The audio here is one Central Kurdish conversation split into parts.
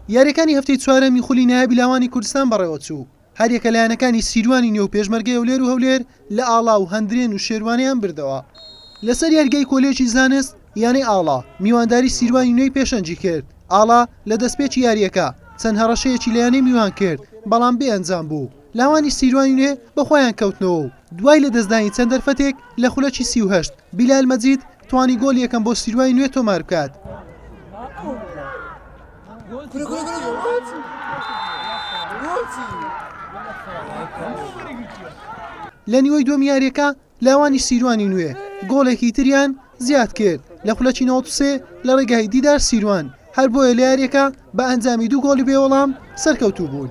یاریەکانی هەفتەی چوارەمی خولی نایابی لاوانی کوردستان بەڕێوەچوو هەریەکە لایەنەکانی سیروانی نێو پێشمەرگەی هەولێر و هەولێر لە ئاڵا و هەندرێن و شێروانیان بردەوە لەسەر یاریگای کۆلێژی زانست یانەی ئاڵا میوانداری سیروانی نوێی پێشەنجی کرد ئاڵا لە دەستپێکی یاریەکە چەند هەڕەشەیەکی لە یانەی میوان کرد بەڵام بێ ئەنجام بوو لاوانی سیروانی نوێ بەخۆیان کەوتنەوە و دوای لە دەستدانی چەند دەرفەتێک لە خولەکی سی و هەشت بیلال مەجید توانی گۆڵی یەکەم بۆ سیروای نوێ تۆمار بکات. لە نیوەی دووەم یاریەکە لاوانی سیروانی نوێ گۆڵێکی تریان زیاد کرد لە خولەکی نۆسێ لە ڕێگای دیدار سیروان هەر بۆیە لە یاریەکە بە ئەنجامی دوو گۆڵی بێوەڵام سەرکەوتوو بوون.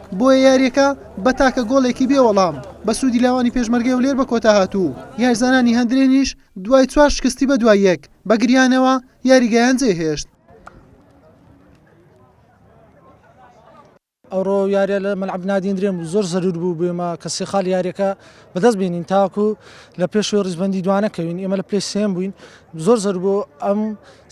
بۆیە یارییەکە بە تاکە گۆڵێکی بێ وەڵام بە سوودی لاوانی پێشمەرگەی هەولێر بە کۆتا هات و یاریزانانی هەندرێنیش دوای چوار شکستی بەدوای یەک بە گریانەوە یاریگایان جێهێشت. ئەوڕۆ یاریە لە مەلعب نادین درێن بوو زۆر زەرور بوو بێمە کە سێ خاڵ یاریەکە بەدەست بینین تاکو لە پێشوێ ڕیزبندی دوانەکەوین ئێمە لە پلی سێن بووین زۆر زەر بۆ ئەم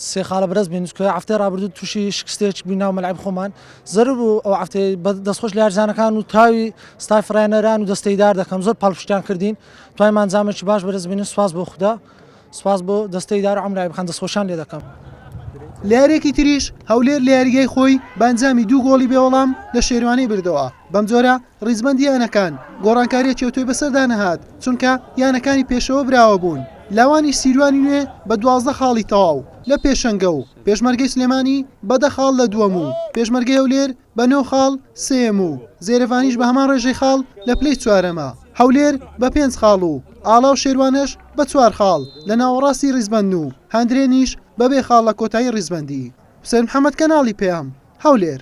سێ خاڵە بەرز بین سکۆیە هەفتەی ڕابردوو تووشی شکستێک بووی ناو مەلعب خۆمان زەرور بوو ئەو هەفتەی دەستخۆش لە یارزانەکان و تاوی ستای فڕێنەران و دەستەی دار دەکەم زۆر پاڵپشتیان کردین توایمان زامێکی باش بەرز بین سواز بۆ خوددا سواز بۆ دەستەی دار عمرای بخان دەستخۆشان لێ دەکەم لە یاریەکی تریش هەولێر لە یاریگای خۆی بانجامی دوو گۆڵی بێوەڵام لە شێروانی بردەوە. بەمجۆرە ڕیزبەندی یانەکان گۆڕانکارییەکی ئەوتۆی بەسەردا نەهات، چونکە یانەکانی پێشەوە براوە بوون، لاوانی سیروانی نوێ بە دوازدە خاڵی تەواو لە پێشەنگە و پێشمەرگەی سلێمانی بە دە خاڵ لە دووەم و پێشمەرگەی هەولێر بە نۆ خاڵ سێیەم و زێرەڤانیش بە هەمان ڕێژەی خاڵ لە پلەی چوارەمە. هەولێر بە پێنج خاڵ و ئاڵا و شێروانەش بە چوار خاڵ لە ناوەڕاستی ڕیزبەندن و هەندرێنیش بە بێ خاڵ لە کۆتایی ڕیزبەندی. حوسێن محەمەد کەناڵی پەیام، هەولێر.